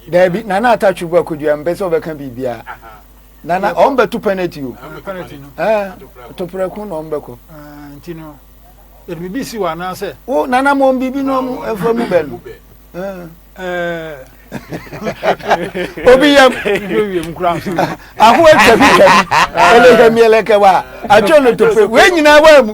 daabi nana atatwe bu akodua mpɛ sɛ ɔbɛka biribiaa nana ɔm bɛto penalty o toprɛko na ɔm bɛkɔ nti no yɛde biribi si wɔ anaasɛ wo nana ma ɔm biribi no ɔm ɛfa mu bɛ no obi yam aho atwa bi twa bi ɛlɛkɛ miɛlɛkɛ wa atwa no tofe wei nyinaa waa mu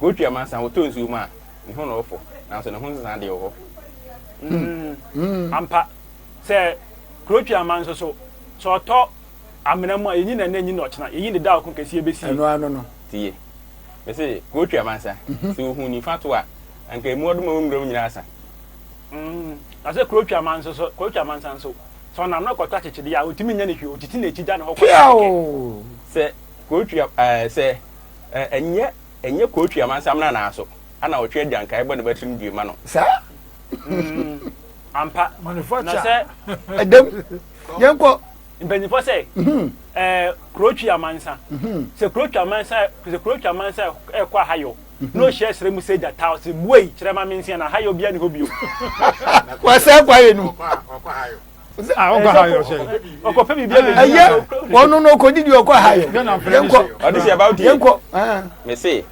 Kootu amansan wotɔ nsuo mu a, ne ho na ɔfɔ, nanso ne ho nsesa deɛ wɔ hɔ. Mm, ampa. Sɛ Kootu aman nso so, sɛ ɔtɔ amena mu a, yɛnyi no ɛnnɛ, yɛnyi no ɔkyena, yɛnyi no da a ɔko kɛseɛ bɛsie. Ɛno ano no. Tie. Mese Kootu amansa, mhm. sɛ ɔhu nifa to a, anka ɛmu ɔdoma wɔ nwura mu nyinaa asa. Mm, na sɛ Kootu aman nso so, Kootu amansa nso, sɛ ɔnam no kɔtɔ akyekyedeɛ a, ɔtumi nya ne hwee, ɔtete n'akyi da ne hɔ kɔ. Sɛ Kootu, eh, sɛ Ɛ nyɛ ɛnyɛ kootwi amansam na naa so ana ɔtwe adwankae bɔ ne ba tirim due ma no saa? Mm, ampa. Na sɛ. Ɛdam. Yɛnkɔ. Mpanyinfoɔ sɛ mhm. ɛɛ kurotwi amansa mhm. sɛ kurotwi amansa sɛ kurotwi amansa ɛkɔ ahayɔ mhm. na ohyia srɛ mu sɛ gyata ɔsɛ buei kyerɛ ma me nsia na ahayɔ bia ne hɔ bio. Wɔsɛ kwa yɛ no. ɔkɔ ha yɛ ɔsɛ ɔkɔ pɛ biribi ɛbɛ ɛyɛ wɔn no ɔkɔ didi ɔkɔ ha yɛ yɛnkɔ ɔde sɛ ɛbɛn tie yɛnkɔ mɛ se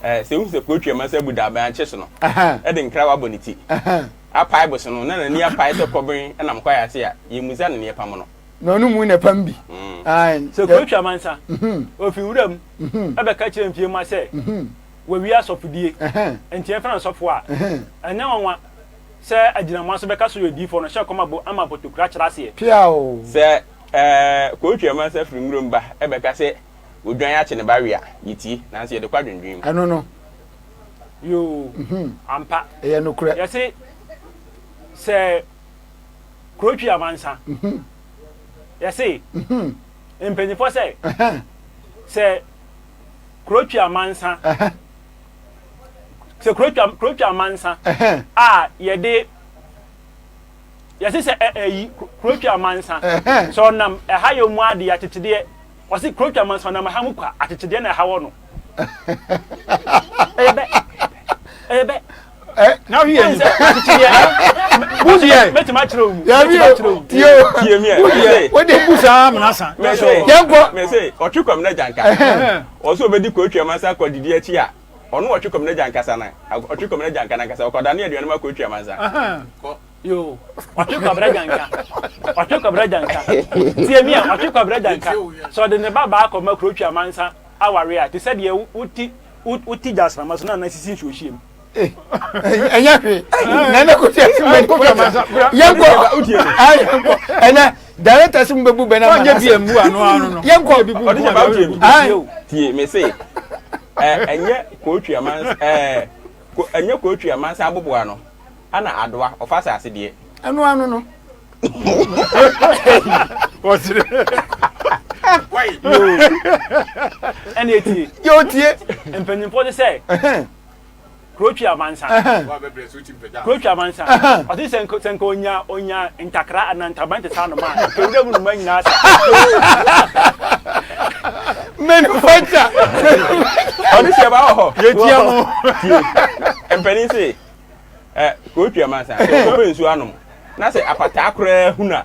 ɛɛ sɛ wusu sɛ kuro twɛm ɛsɛ bu daabɛn akyɛ so no ɛde nkira wa bɔ ne ti apae bɔ so no na n'ani apae sɛ kɔbɛn ɛnam kɔ ayɛ ase a yɛ mu za ne neɛ pam no na ɔno mu na pam bi. sɛ kuro twa mansa ofi wura mu ɛbɛka kyerɛ mpie ma sɛ wɔwie asɔfodie nti ɛfɛn asɔfo a ɛnyɛ wɔn wa Sɛ agyinamoa so bɛka so yɛ odiyifoɔ no hyɛ kɔm abo ama potokura kyerɛ aseɛ. Peaw! Sɛ koo twi ɛma nsa firi nwuram ba ɛbɛka sɛ odwan akye ne ba we a, yɛ tie, nanso yɛde kɔ adwendwen mu. Ɛno no. Yoo, ampa. Ɛyɛ nokorɛ. Yɛse sɛ koo twi ama nsa, yɛse mpaninfoɔ sɛ sɛ koo twi ama nsa. sɛ kuro twa kuro twa amansa a yɛde yɛsi sɛ ɛ ɛyi kuro twa amansa sɛ ɔnam ɛha yɛ mu adeɛ akyekyedeɛ ɔsi kuro twa amansa ɔnam ɛha mu kwa akyekyedeɛ na ɛha wɔ no ɛyɛ bɛ ɛyɛ bɛ. na wi yɛ sɛ akyekyedeɛ busi yɛ mɛtuma akyerɛ omu mɛtuma akyerɛ omu tiye tiye mi yɛ busi yɛ o de busa amina san. mɛ se mɛ se ɔtwi kɔmi na janka. Ɔwɔ sɛ obedi Koetwea Mansa akwadidi akyi a, ɔno wɔ Ɔtwekom n'agya ankasa no Ɔtwekom n'agya anka n'ankasa ɔkɔdane aduane ma Koetwea Mansa. Yoo, Ɔtwe Kwabra Gyanka, Ɔtwe Kwabra Gyanka, tie me a, Ɔtwe Kwabra Gyanka, sɛ ɔde ne ba baa kɔma Koetwea Mansa aware a, te sɛ deɛ wo wo ti wo wo ti gya asrama so na anan sisi nsuohyeɛ mu. ɛnyɛ hwee na ɛnɛ kɔsi ɛsi mɛ nkɔ fɛ ma yɛnkɔ yɛnkɔ ɛnɛ director si mu bɛ bu bɛ na ma na se yɛnkɔ ɔdi sɛ baabu yɛ bi tie mɛ se ɛnyɛ kɔɔtwi aman ɛɛ ɛnyɛ kɔɔtwi aman sɛ aboboa no ɛna adoa ɔfa sɛ ase deɛ. ɛnu ano no. wɔsiri. ɛna etie. yɛ o tie. mpanyinfoɔ ti sɛ. kuro twi amansa kuro twi amansa ɔte sɛ nka sɛ nka onya onya ntakra anaa ntaban te sɛ anoma a nka ewura mu noma nyinaa sa. manufacture ɔde hyɛ ba wɔ hɔ yɛtia mu tie mpanin se ɛ kuro twi amansa sɛ ɔbɛ nsuo anom na sɛ apataa koraa huna.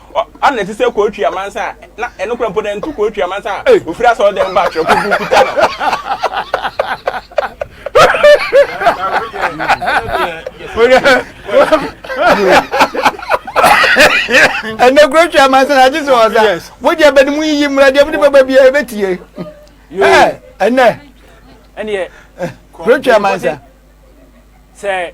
Ɔ, a na ɛte sɛ Kootwi amansan a, na ɛno kora mpo na ɛnto Kootwi amansan a Ei! ɔfiri asɔɔdɛm ba a twerɛkuku kuta no. Ɛnɛ Kootwi amansan a, agye sɛ ɔwɔ sa. Yes. Wo deɛ bɛ ne mu yiyi mmra, deɛ wode bɛba biara ɛbɛtie. Ɛ, ɛnɛ, Ɛneɛ, Kootwi amansan. sɛ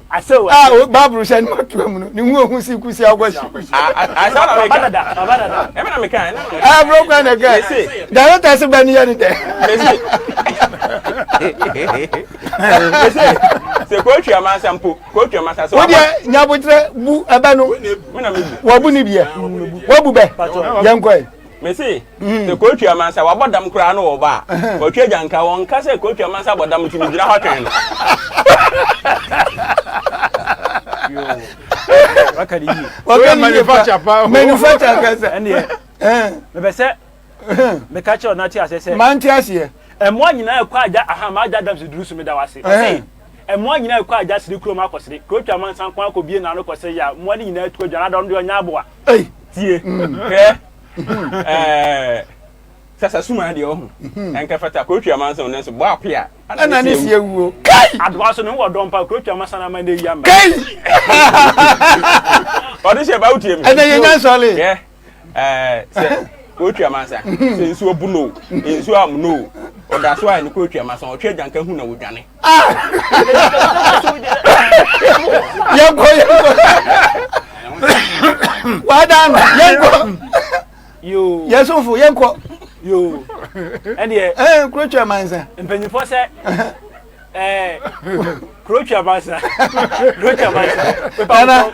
Asew a o Bible hyɛ no ato amu no, ne ho ehu si kusi akwasi. Asew na meka. Baba dada. Ɛmi na meka. Ɛɛ bro kwan na kɛ. Director se bɛ ni yɛ ni dɛ. Mese. Mese. Se ko twi amansa mpo. Ko twi amansa so. Wodi nyabotre bu ɛbɛ no. Wɔ bu ni biɛ. Wɔ bu bɛ. Yɛn kɔ yi. Mese mm. sɛ kootu amansa wabɔ dam koraa na ɔba a ɔtwa agya nka wɔnka sɛ kootu amansa bɔ dam nti megyina hɔ twɛn no wakari yie wakari manufacture pa manufacture kasa ɛnneɛ mɛbɛ sɛ mɛka kyerɛ ɔnate asɛ sɛ mante aseɛ ɛmoa nyinaa ɛkɔ agya aha ma agya dam sɛ duru so meda wo ase Mmoa nyinaa rekɔ agya sere kurom akɔ sere. Kuro twa mansa nko ara kɔ bie n'ano kɔ sere yɛ a, mmoa no nyinaa tu adwane ada, ɔno deɛ ɔnyɛ aboa. Ei! Tie, hwɛ, ɛɛ, sasa suma deɛ ɔho, ɛnkɛ fata, kuro twa mansa o, nanso bɔ ape a, ɛna ne si awuo. Kai! Adoa nso, ne ho wɔ dɔn paa, kuro twa mansa na ama nnɛ yi amba. Kai! Ɔde hyɛ ba, wotie me? Ɛnɛ yɛ nyansa ɔle. Hwɛ. sɛ ɔretwa ma nsa sɛ nsuo bu no nsuo am no ɔda so a ne kɔretwa ma sa ɔtwa agyanka hu na wɔdwane yɛnkɔ yɛnkɔ wadan no yɛnkɔ yɛsomfo yɛnkɔ yoo ɛdeɛ ɛɛ kurotwa ma nsa mpanyinfoɔ sɛ ɛɛ kurotwa ma nsa kurotwa ma nsa pepɛ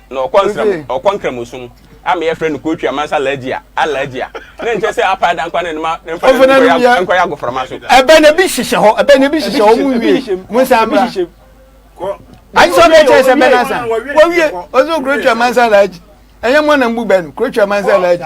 Na ɔkɔ nsram ɔkɔ nkramosom a meyɛ frɛ no kootwi amansa alaagyi a alaagyi a ne nkyɛ sɛ apa ada nkwa ne noma ne mfa ne nkɔyɛ nkɔyɛ agoframa so. ɛbɛn ebi hyehyɛ hɔ ɛbɛn ebi hyehyɛ hɔ mu wie mu nsa mra agye sɛ ɔbɛ kyerɛ sɛ bɛ nansa wɔwie ɔsɛ kootwi amansa alaagyi ɛnyɛ mɔ na mbu bɛ no kootwi amansa alaagyi.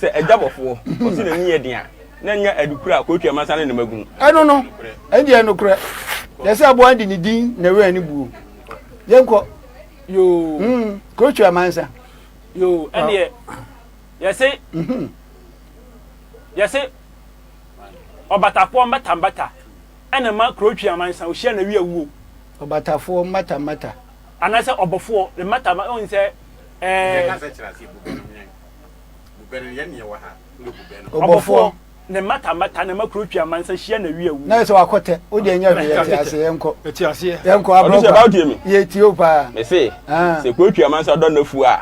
Sɛ agya bɔfoɔ ɔse n'ani yɛ den a, na ɛnyɛ adukura a kootu amansa ne ne mma gu mu. Ɛno no, ɛnde ɛyɛ nokorɛ. Yɛ sɛ aboa de ne din na ɛwɛn ne buo. Yɛnkɔ. Yoo. Mm, kootu amansa. Yoo, ɛndeɛ yɛse mhm. yɛse ɔbatafoɔ mbata mbata ɛna ma kurotwi amansa ohyia na wi awuo. Ɔbatafoɔ mbata mbata. Anaasɛ ɔbɔfoɔ ne mbata mbata ɔn sɛ ɛɛ. Ɔbɔfoɔ, ne mmata mmata, ne mmakuro twi amansa hyia na wi awu. Na yɛ sɛ wakɔ tɛ, o deɛ nyɛ hwee, yɛte aseɛ, yɛnkɔ. Yɛte aseɛ. Yɛnkɔ abrɔ kwa. Ɔno sɛ mi. Yɛtie o paa. Mese, sɛ kuro twi amansa dɔ n'afuo a,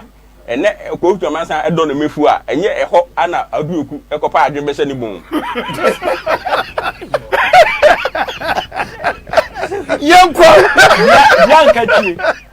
ɛnɛ kuro twi amansa dɔ ne mmafuo a, ɛnyɛ ɛhɔ ara na Aduoku kɔpa adwene bɛhyɛ ne bɔn mu. Yɛnkɔ. Bianca tie.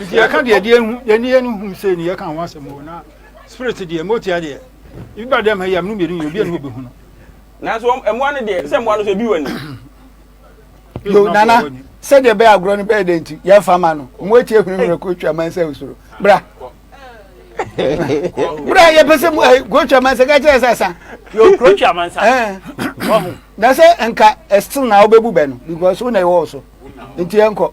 nti yɛka deɛ deɛ hu yɛne yɛn hu sɛ ne yɛka ho asɛm o na spirit deɛ motia deɛ ebi ba dɛm ha yi a mene mmienu yɛ obi a ne wɔbɛhu no nanso mmoa no deɛ sɛ mmoa no so ebi wɔ ni yo nana sɛdeɛ bɛyɛ agorɔ no bɛyɛ dɛ nti yɛmfa ma no ɔmo atie hunu mmerɛ kotwa man sɛ wosoro bra bra yɛpɛ sɛ eh, kotwa man sɛ ka kyerɛ sɛ sa kotwa man sa eh. na sɛ nka ɛstil na wobɛbu bɛ no because wo na ɛwɔ so nti yɛnkɔ